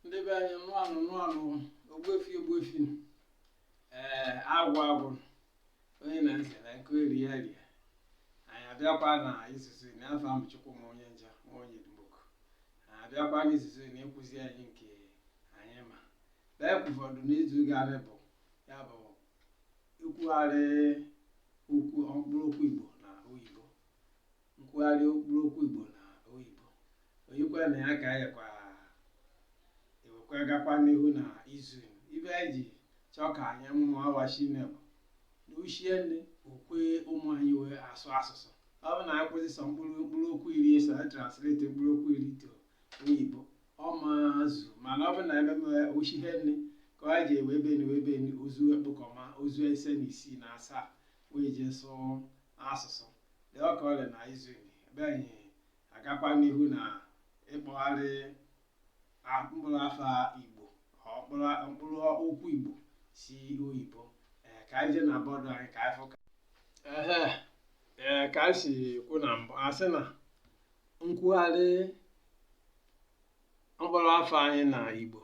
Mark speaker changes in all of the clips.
Speaker 1: ndị be anyị nnụa nụ nnụa nụ ogbuefi ogbuefi nụ. ee agwụ agwụ nụ. onye na ntị na nke eri ya rie anyị abịakwa na izuzu na afa m bụ Chukwuma onye nja ma onye dumoku anyị abịakwa na izuzu na ịkụzi anyị nke anyị ma lee ụfọdụ n'izu gara bụ ya bụ ikwugharị okwu mkpụrụ okwu igbo na oyibo nkwugharị mkpụrụ okwu Igbo na oyibo o yikwara na ya ka anyị yakwa ewekwa gakwa n'ihu na izu ibe anyị ji chọọ ka anyị mụọ awachi nne bụ na ochie nne okwe ụmụ anyị wee asụ asụsụ ọ bụ na anyị kwụsị sọ mkpụrụ mkpụrụ okwu iri eso anyị translate mkpụrụ okwu iri to oyibo ọ ma zu mana ọ bụ na ebe ochi ihe nne ka anyị ji ewe ebe niwe ebe ni ozu ekpokọma ozu ise na isii na asaa wee jee sụọ asụsụ dị ọka ọlị na izu ebe anyị agakwa n'ihu na ịkpọgharị mkpụrụ afa igbo mkpụrụ okwu igbo si oyibo ka anyị jee na bọọdụ anyị ka anyị fụ ka ee ka anyị si kwu na mbụ a sị na nkwugharị mkpụrụ afa anyị na igbo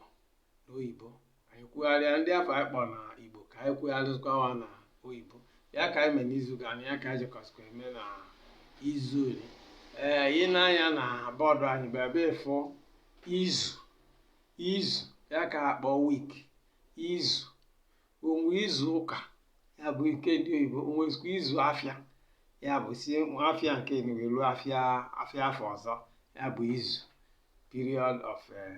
Speaker 1: na oyibo anyị kwugharịa ndị afa anyị kpọrọ na igbo ka anyị kwugharịzikwa wa na oyibo ya ka anyị mee n'izu gara na ya ka anyị jekọzikwa eme na izu ole ee ị nee anya na bọọdụ anyị bụ ebe ị fụ izu izu ya ka akpọ week izu o nwe izu ụka ya bụ nke ndị oyibo o nwezikwa izu afịa ya bụ si afịa nke enuwe ruo afịa afịa afọ ọzọ ya bụ izu period of eh,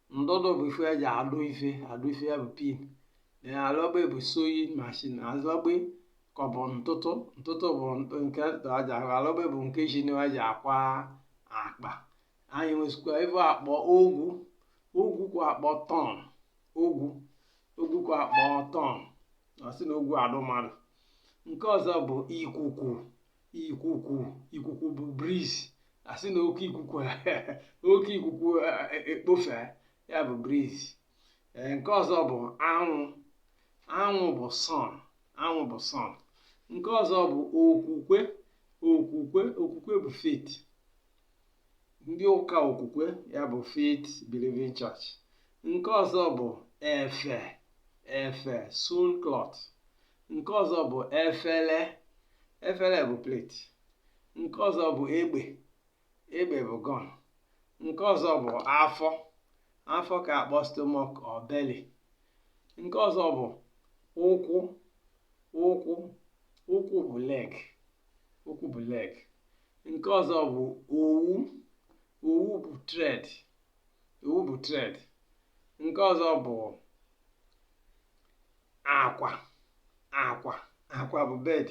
Speaker 1: ndụdụ bụ ife eji adụ ife adụ ife ya bụ pin then alọgbe bụ sewing machine alọgbe ka ọ bụ ntụtụ ntụtụ bụ nke aka alọgbe bụ nke injin wa ji akwa akwa anyị nwezikwa ife akpọ ogwu ogwu ka akpọ thorn ogwu ogwu ka akpọ thorn a sị na ogwu adụ mmadụ nke ọzọ bụ ikuku ikuku ikuku bụ breeze a sị na oke ikuku oke ikuku ekpofe ya bụ breeze nke ọzọ bụ anwụ anwụ bụ sun anwụ bụ sun nke ọzọ bụ okwukwe okwukwe okwukwe bụ faith ndị ụka okwukwe ya bụ faith believing church nke ọzọ bụ efe efe sewn cloth nke ọzọ bụ efere efere bụ plate nke ọzọ bụ egbe egbe bụ gun nke ọzọ bụ afọ afọ ka akpọ stomach or belly nke ọzọ bụ ụkwụ ụkwụ ụkwụ bụ leg ụkwụ bụ leg nke ọzọ bụ owu owu bụ thread owu bụ thread nke ọzọ bụ akwa akwa akwa bụ bed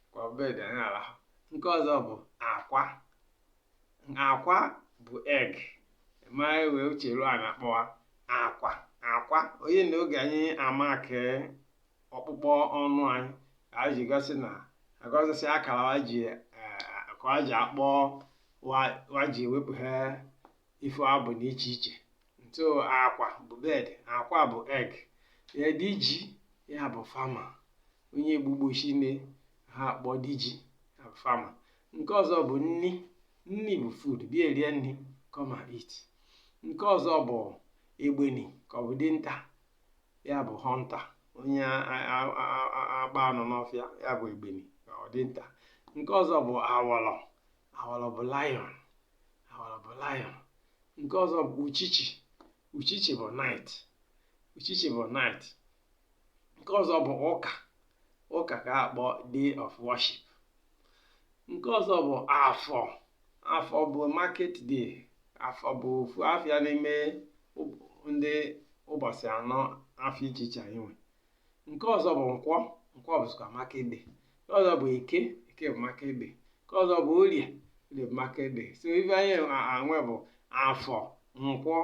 Speaker 1: akwa bụ bed anyị arahụ nke ọzọ bụ akwa akwa bụ egg ma wee uche ruo a na-akpọwa akwa akwa onye na oge anyị ama ka ọkpụkpọ ọnụ anyị ka anyị ji gosi na agọzisi akara anyị ji eh, ka anyị ji akpọ wa- wa ji ewepụghe ife abụ na iche iche so akwa bụ bed akwa bụ egg eh diji ya bụ farmer onye gbu ugbo shinne ha akpọ diji ya bụ farmer nke ọzọ bụ nni nni bụ food bịa erie nni come and eat nke ọzọ bụ egbeni ka ọ bụ dinta ya bụ hunter onye agba anụ n'ọfịa ya bụ egbeni ka ọ dinta nke ọzọ bụ awọlọ awọlọ bụ lion awọlọ bụ lion nke ọzọ bụ uchichi uchichi bụ night uchichi bụ night nke ọzọ bụ ụka ụka ka akpọ day of worship nke ọzọ bụ afọ afọ bụ market day afọ bụ ofu afịa n'ime ndị ụbọsị anọ afịa iche iche anyị nwe nke ọzọ bụ nkwọ nkwọ bụzikwa market day nke ọzọ bụ eke eke bụ market day nke ọzọ bụ orie orie bụ market day so ife anyị nwe bụ afọ nkwọ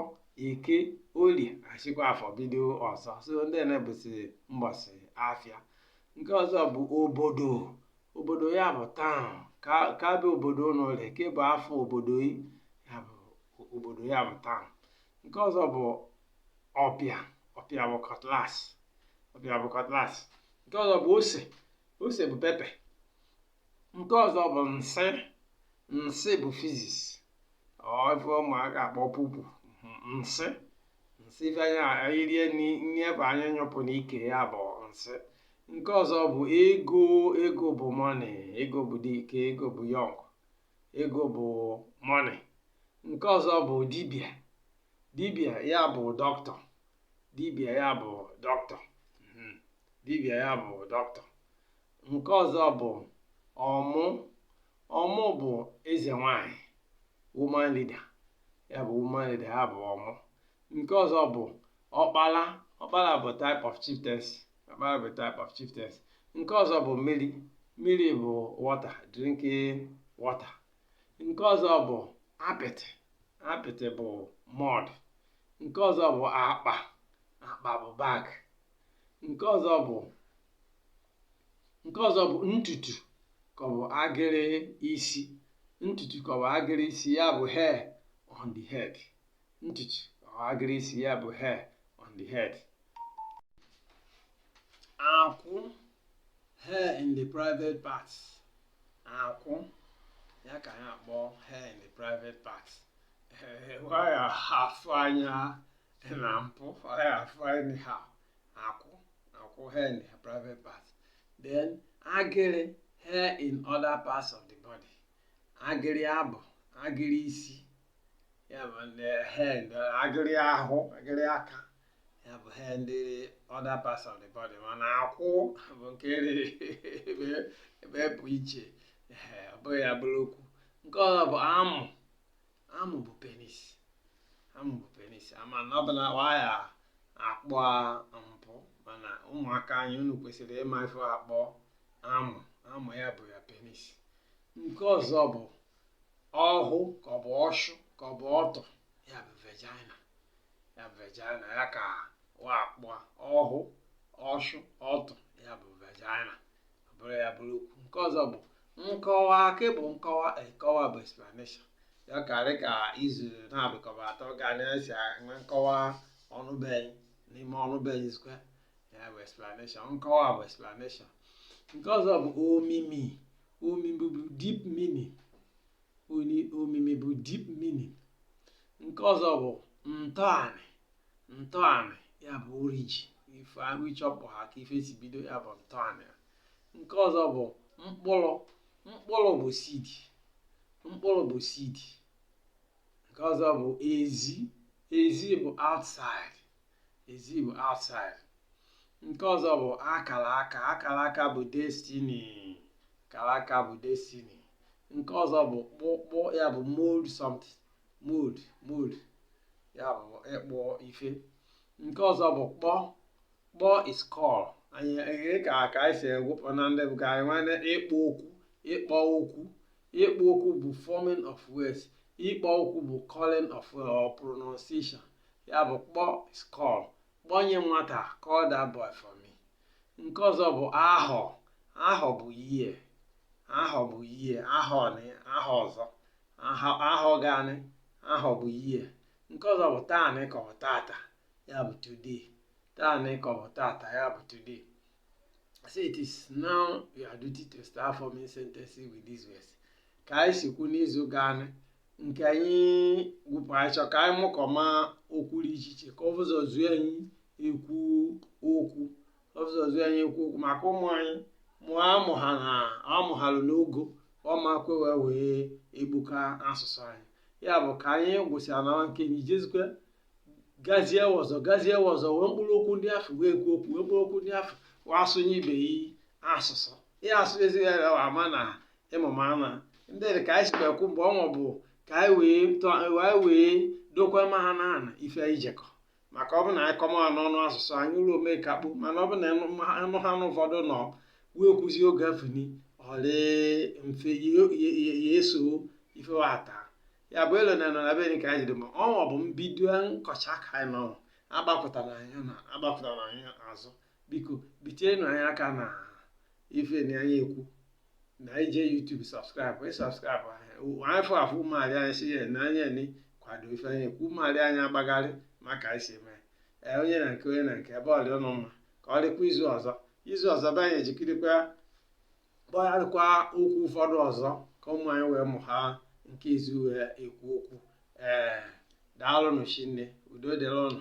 Speaker 1: eke orie achịkwa afọ bido ọzọ so ndị ene bụzi mbọsị afịa nke ọzọ bụ obodo obodo ya bụ town ka ka bụ obodo ụlọ ole ka bụ afa obodo ị ya bụ o- obodo ya bụ town nke ọzọ bụ ọpịa ọpịa bụ cutlass ọpịa bụ cutlass nke ọzọ bụ ose ose bụ pepper nke ọzọ bụ nsị nsị bụ faeces ife ụmụaka akpọ pupu nsị nsị ife anyị anyị rie nni nni ife anyị nyụpụ n'ike ya bụ nsị nke ọzọ bụ ego ego bụ money ego bụ dike ego bụ young ego bụ money nke ọzọ bụ dibịa dibịa ya bụ doctor dibịa ya bụ doctor Mhm. dibịa ya bụ doctor nke ọzọ bụ ọmụ ọmụ bụ eze nwanyị woman leader ya bụ woman leader ya bụ ọmụ nke ọzọ bụ ọkpala ọkpala bụ type of chieftaincy ọkpala bụ type of chieftaincy nke ọzọ bụ mmiri mmiri bụ water drinking water nke ọzọ bụ apịtị apịtị bụ mud nke ọzọ bụ akpa akpa bụ bag nke ọzọ bụ nke ọzọ bụ ntutu ka ọ bụ agịrị isi ntutu ka ọ bụ agịrị isi ya bụ hair on the head ntutu ka ọ bụ agịrị isi ya bụ hair on the head akwụ hair in the private parts akwụ ya ka ya akpọ hair in the private parts waya afụ anya dị na mpụ ọ ya afụ anya ha akwụ akwụ hair in the private part then agịrị hair in other parts of the body agịrị abụ agịrị isi ya bụ ndị hair in the- agịrị ahụ agịrị aka ya bụ hair in the other parts of the body mana akwụ bụ nke riri ebe ebe pụ iche Ehe, ọ bụghị ya bụrụ okwu nke ọzọ bụ amụ Amụ bụ penis. Amụ bụ penis. Ama na ọ bụ na waya akpọ mpụ mana ụmụaka anyị unu kwesịrị ịma ife akpọ amụ. Amụ ya bụ ya penis. Nke ọzọ bụ ọhụ ka ọ bụ ọshụ ka ọ bụ ọtụ ya bụ vagina. Ya bụ vagina ya ka wa akpọ ọhụ ọshụ ọtụ ya bụ vagina. ọ bụrụ ya bụrụ okwu nke ọzọ bụ nkọwa ke bụ nkọwa nkọwa bụ explanation ya karị ka izu na-abụkọba atọ ga na-esi enwe nkọwa ọnụbeghị n'ime ọnụbeghị square ya bụ explanation nkọwa bụ explanation nke ọzọ bụ omimi omimi bụ deep meaning omimi bụ deep meaning nke ọzọ bụ ntọanị ntọanị ya bụ origin ife ahụ ịchọpụ ha ka ife si bido ya bụ ntọanị nke ọzọ bụ mkpụrụ mkpụrụ bụ seed mkpụrụ bụ seed nke ọzọ bụ ezi ezi bụ outside Ezi bụ outside. Nke ọzọ bụ akara aka. Akara aka bụ destiny. Akara aka bụ destiny. Nke ọzọ bụ kpụ kpụ ya bụ mold something. Mold mold ya bụ ịkpụ ife. Nke ọzọ bụ kpọ kpọ is call. Anyị anyị ka ka anyị si egwụpụ na ndị bụ ka anyị nwere ịkpụ okwu ịkpọ okwu ịkpụ okwu bụ forming of words ịkpọ okwu bụ calling of uh, or pronunciation ya bụ kpọ is call kpọnye nwata call that boy for me nke ọzọ bụ ahọ ahọ bụ year ahọ bụ year ahọ na ahọ ọzọ ahọ gaanị ahọ bụ year nke ọzọ bụ taanị ka ọ bụ tata ya bụ today taanị ka ọ bụ tata ya bụ today So it is now your duty to start forming sentences with these words ka anyị si kwu n'izu gaa nke anyị gwụpụrụ anyị chọ ka anyị mụkọma okwu dị iche iche ka o buzo zuo anyị ekwu okwu o buzo zuo anyị ekwu okwu maka ụmụ anyị mụọ amụ ha na amụ ha lụ n'ogo ọ ma kwe wee wee egbuka asụsụ anyị ya bụ ka anyị gwụsịa na nke ijezikwe gazie ọzọ gazie ọzọ wee mkpụrụ okwu ndị afụ wee kwuo okwu wee mkpụrụ okwu ndị afụ wee asụnye ibe yi asụsụ ihe asụ ezighi ya wa ama na ịmụma ama ndị dị ka anyị sikwa ekwu mgbe ọnwa bụ ka anyị wee tọ- anyị wee dokwa ma ha na ana ife anyị jekọ maka ọ bụ na anyị kọma ha n'ọnụ asụsụ anyị ụlọ ome ka kpụ mana ọ bụ na ịnụ ma- ịnụ ha nụ ụfọdụ nọ wee kwuzi oge afụni ọ rị mfe ya- ya- ya- ya eso ife wa ata ya bụ elo na nọ na be ka anyị dị ma ọnwa bụ mbido nkọcha ka anyị nọ agbapụtara anyị na agbapụtara anyị azụ biko bitienụ anyị aka na ife na anyị ekwu n'ije YouTube subscribe ị subscribe afụ afụ ụmụarị anyị si ya na anya ni kwado ife anyị ekwu ụmụarị anyị agbagharị maka anyị si eme ee onye na nke onye na nke ebe ọ rị ụnụ mma ka ọ dịkwa izu ọzọ izu ọzọ be anyị ejikirikwa kpọgharịkwa okwu ụfọdụ ọzọ ka ụmụ anyị wee mụ ha nke izu wee ekwu okwu ee daalụnụ shinne udo dịrị ụnụ